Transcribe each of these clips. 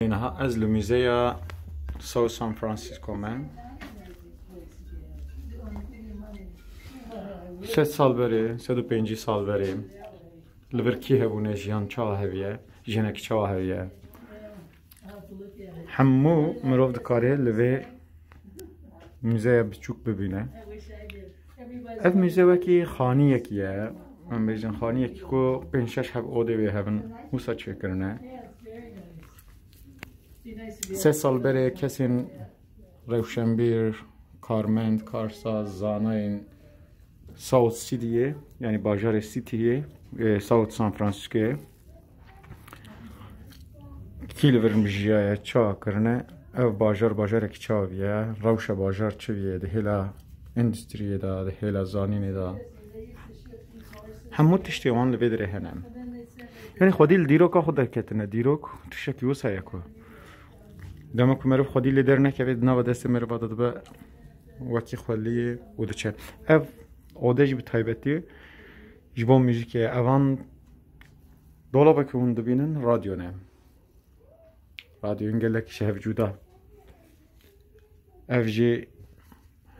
Niha ez li Muzeya South San Francisco me. Sed sal berê, sed û pêncî sal berê li vir kî hebûne jiyan çawa heviye, jiyanekî çawa heviye. Hemû mirov dikare li vê muzeya biçûk bibîne. Ev mûze wekî xaniyekî ye em bêjin xaniyekî ku pênc şeş heb odê wê hevin wisa çêkirine. Se sal berê kesên rewşenbîr, karmend, karsaz, zanayên South City'yê yani bajarê City'yê e, South San Francisco'yê Kî li vir mijiyaye çawa kirine ev bajar bajarekî çawa bûye rewşa bajar çi bûye di hêla endustriyê de di hêla zanînê de hemû tiştê wan li vê dirê hene yanî xwedî li dîroka xwe derketine dîrok tiştekî wisa ye ku dema ku meriv xwedî lê dernekeve di nava destê meriva de dibe wekî xweliyê û diçe ev odej bi taybetî Ji bo muzîkê evan dolabekî hûn dibînin radyo ne. Radyoyên gelekî ji hev cuda. Ev jî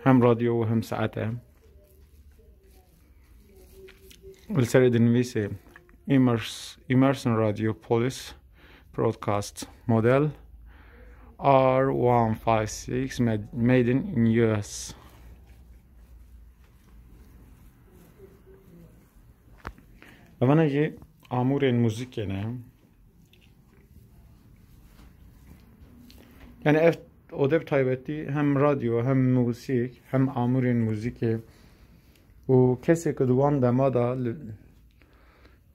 hem radyo û hem saet e. Li serê dinivîsê Emerson Radio Polis Broadcast Model R156 Made in US. Evana jî amûrên muzîkê ne. Yani ev odê bi taybetî hem radyo hem muzîk hem amûrên muzîkê û kesê ku di wan dema da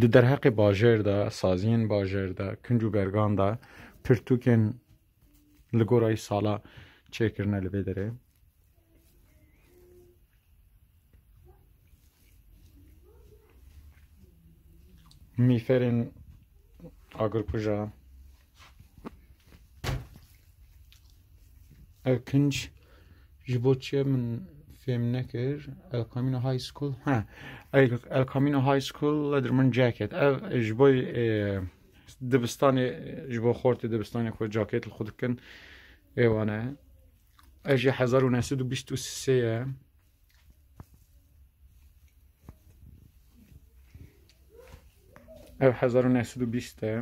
Di derheqê bajêr de, saziyên bajêr de, kinc û bergan de pirtûkên li gorayî sala çêkirine li vê derê. Mîferên agirkuja Ev kinç ji bo çiye min fêm nekir El Camino High School ha El Camino High School ledir min jacket ev ji bo dibistanê ji bo xortê dibistanê xwe jacket li xwe dikin êwane ev jî hezar û neh sed û bîst û sê ye Ev hezar û neh sed û bîst e.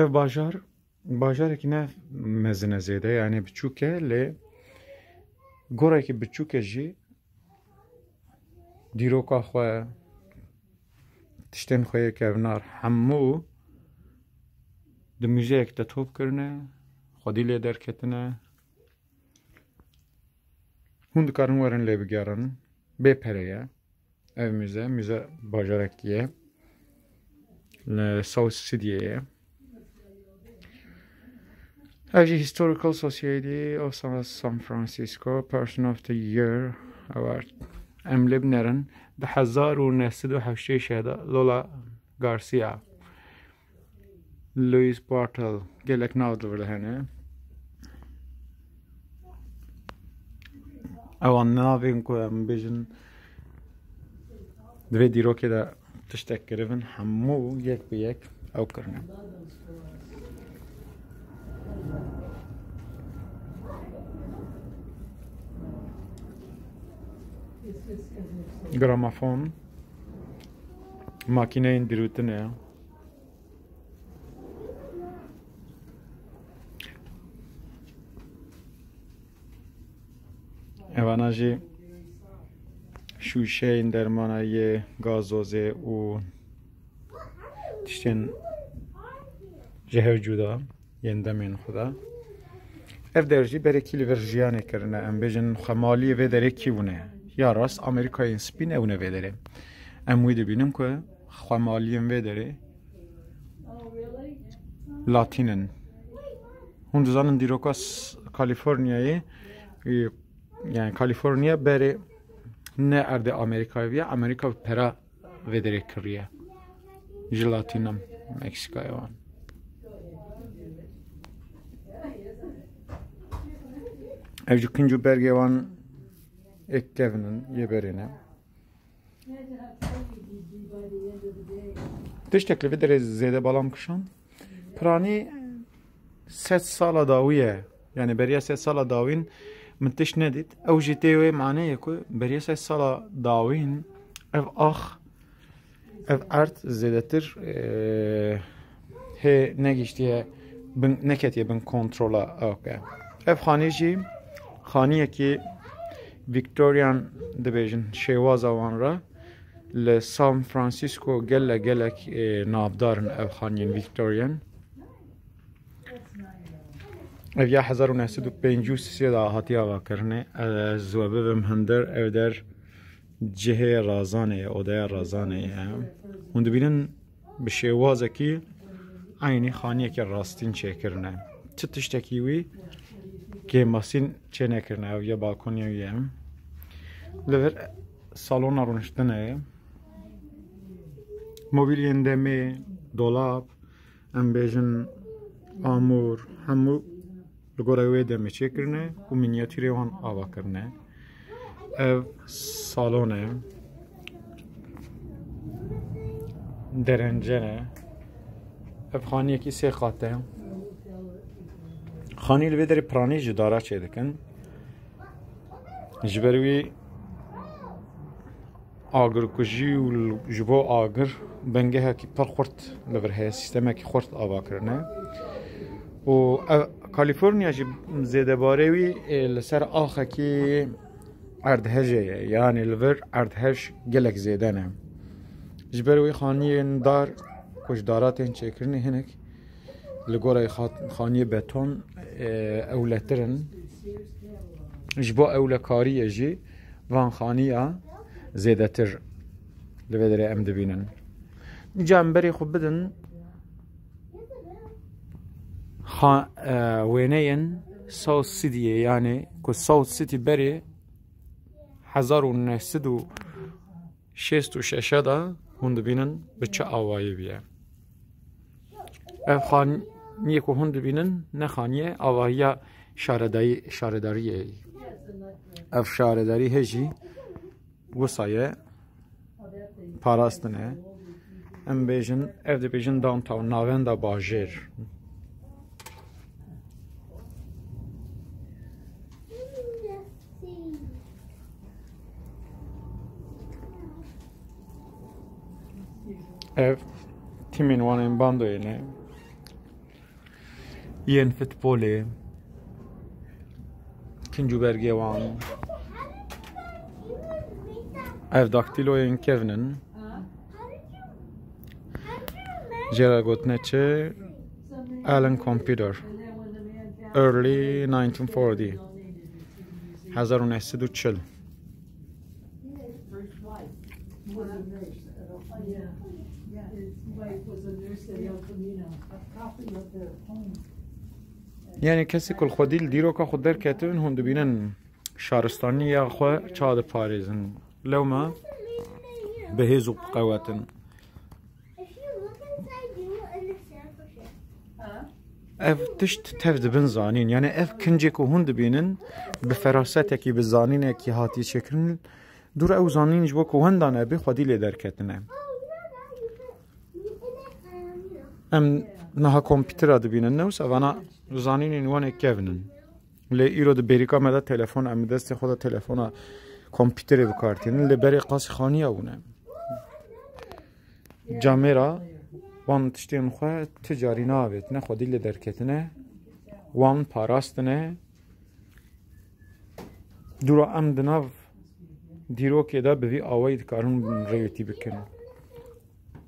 Ev bajar bajarekî ne mezin e zêde yanê biçûk e lê gorekî biçûk e jî dîroka xwe, tiştên xwe yê kevnar hemû di muzeyek de top kirine, xwedî lê derketine. Hûn dikarin werin lê bigerin. Bê pere ye. Ev muze, muze bajarekî ye. Li South Sydneyê ye. Ev jî Historical Society of San Francisco Person of the Year Award. Em lê binerin di hezar û neh sed û heştê şeh de Lola Garcia, Louis Bartel gelek nav divirihene. Ewan navên ku em bêjin di vê dîrokê de tiştek kiribin hemû yek bi yek ew kirine. Gramafon makineyên dirûtinê Evana jî şûşeyên dermana yê gazozê û tiştên ji hev cuda. yên demên xwe de. Ev der jî berekî li vir jiyanê kirine. Em bêjin xemaliyê vê derê kî hûn e? Ya rast Amerîkayên spî ne hûn e vê derê. Em wî dibînin ku xemaliyên vê derê Latîn in. Hûn dizanin dîroka Kalîforniyayê yani Kalîforniya berê ne erdê Amerîkayê viya Amerîka pera Vê derê kiriye. Ji Latînam Meksîkayê wan. Ev ji kinc û bergê wan ek kevin in yê berê ne. Tiştek li vê derê zêde balam kişand. Piranî Sed sala dawî ye. Yanî beriya sed sala dawîn min tişt nedît. Ew jî tê wê maneyê ku beriya sed sala dawîn ev ax ev erd zêdetir hê negîştiye bin neketiye bin kontrola ew ke. Ev xanî jî xaniyekî Victorian dibêjin şêwaza wan re li San Francisco gele gelek navdarin ev xaniyên Victorian. Ev ya hezar û neh sed û pêncî û sê de hatiye avakirinê. Ez we bibim hundir ev der cihê Razanê ye, odeya Razanê ye. Hûn dibînin bi şêwazekî eynî xaniyekî rastîn çêkirine. Çi tiştekî wî kêmasîn çênekirine. Ew ya balkonê wî ye. Li vir salona rûniştinê ye. Mobîlyên demê, dolap, Em bêjin amûr hemû li gorî wê demê çêkirine û mînyatîrê wan ava kirine. Ev salon e. Derence ne. Ev xaniyekî sê qat e. Xanî li vê derê piranî ji dara çêdikin. Ji ber wî Agirkujî û ji bo agir bingehekî pir xurt li vir heye, sîstemekî xurt avakirine û ev Kalîforniya jî zêdebarê wî li ser axekî erdhejê ye yanî li vir erdhej gelek zêde ne. Ji ber wê xaniyên dar ku ji daran tên çêkirinê hinek Li gorî xaniyê beton ewletir in. Ji bo ewlekariyê jî van xaniya zêdetir li vê derê em dibînin. Ca em berê xwe bidin wêneyên South City'ê yanê ku South City berê hezar û neh sed û şêst û şeş de hûn dibînin bi çi awayî bûye. Ev xaniyê ku hûn dibînin ne xaniye avahiya şaredayî şaredariyê ye. Ev şaredarî hê jî wisa ye parastin e. Em bêjin ev dibêjin downtown navenda bajêr. Ev timên wan ên bandoyê ne. Yên futbolê. Kincû bergê wan. Ev daktiloyên kevin in. Jê re gotine çi? Alan Computer. Early 1940. 1940. Yani kesê ku li xwedî li dîroka xwe derketin hûn dibînin şaristaniya xwe ça diparêzin. Lewma bi hêz û bi qewetin. Ev tişt tev dibin zanîn yani ev kincê ku hûn dibînin bi ferasetekî bi zanînekî hatiye çêkirin dûr ew zanîn ji bo ku wenda nebê xwedî lê derketine. Em niha kompîtera dibînin ne wisa vana zanînên wan ê kevin in. Lê îro di bêrîka me de telefon em li destê xwe de telefona kompîterê bi kar tînin lê berê qasî xaniya wan e. Camêra wan tiştên xwe tu carî navêtine xwedî lê derketine wan parastine dûra em di nav dîrokê de bi vî awayî dikarin rêwêtî bikin.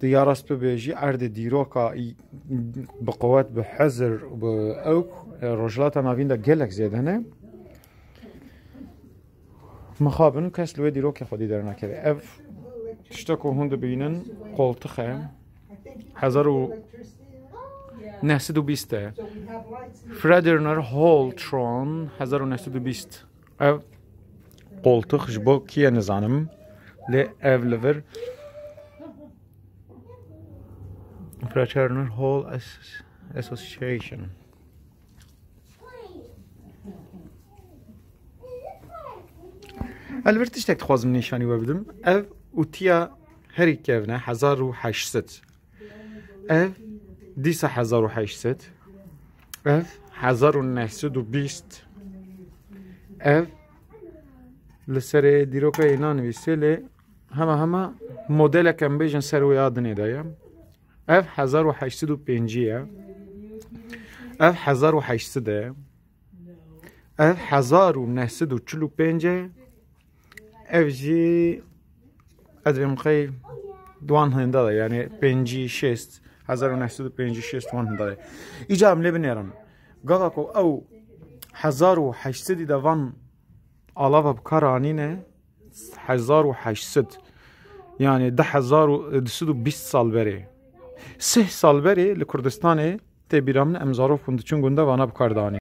Tu ya rast bibêjî erdê dîroka bi qewet bi hezir û bi ewk Rojhilata Navîn de gelek zêde ne. Mixabin kes li wê dîrokê xwedî dernakeve. Ev tişte ku hûn dibînin qoltix e. Hezar û nehsed û bîst e. Frederick Holtron hezar û nehsed û bîst. Ev qoltix ji bo kî ye nizanim lê ev li vir Fraternal Hall Association. Elbir tiştek dixwazim nîşanî we bidim. Ev û tiya herî kevne hezar û heşt sed. Ev dîsa hezar û heşt sed ev hezar û neh sed û bîst ev li serê dîroka yê nanivîsê lê hema hema modelek em bêjin ser wê adinê de ye ev hezar û heşt sed û pêncî ye ev hezar û heşt sed e ev hezar û neh sed û çil û pênc e Ev jî ez dibêjim qey di wan hinda de yanî pêncî şêst hezar û neh sed û pêncî şêst wan hinda ye. Îcar em lê binêrin. Gava ku ew hezar û heşt sedî de van alava bi kar anîne hezar û heşt sed yanî di hezar û di sed û bîst sal berê. Sih sal berê li Kurdistanê tê bîra min em zarok hûn diçin gunda vana bi kar de anîn.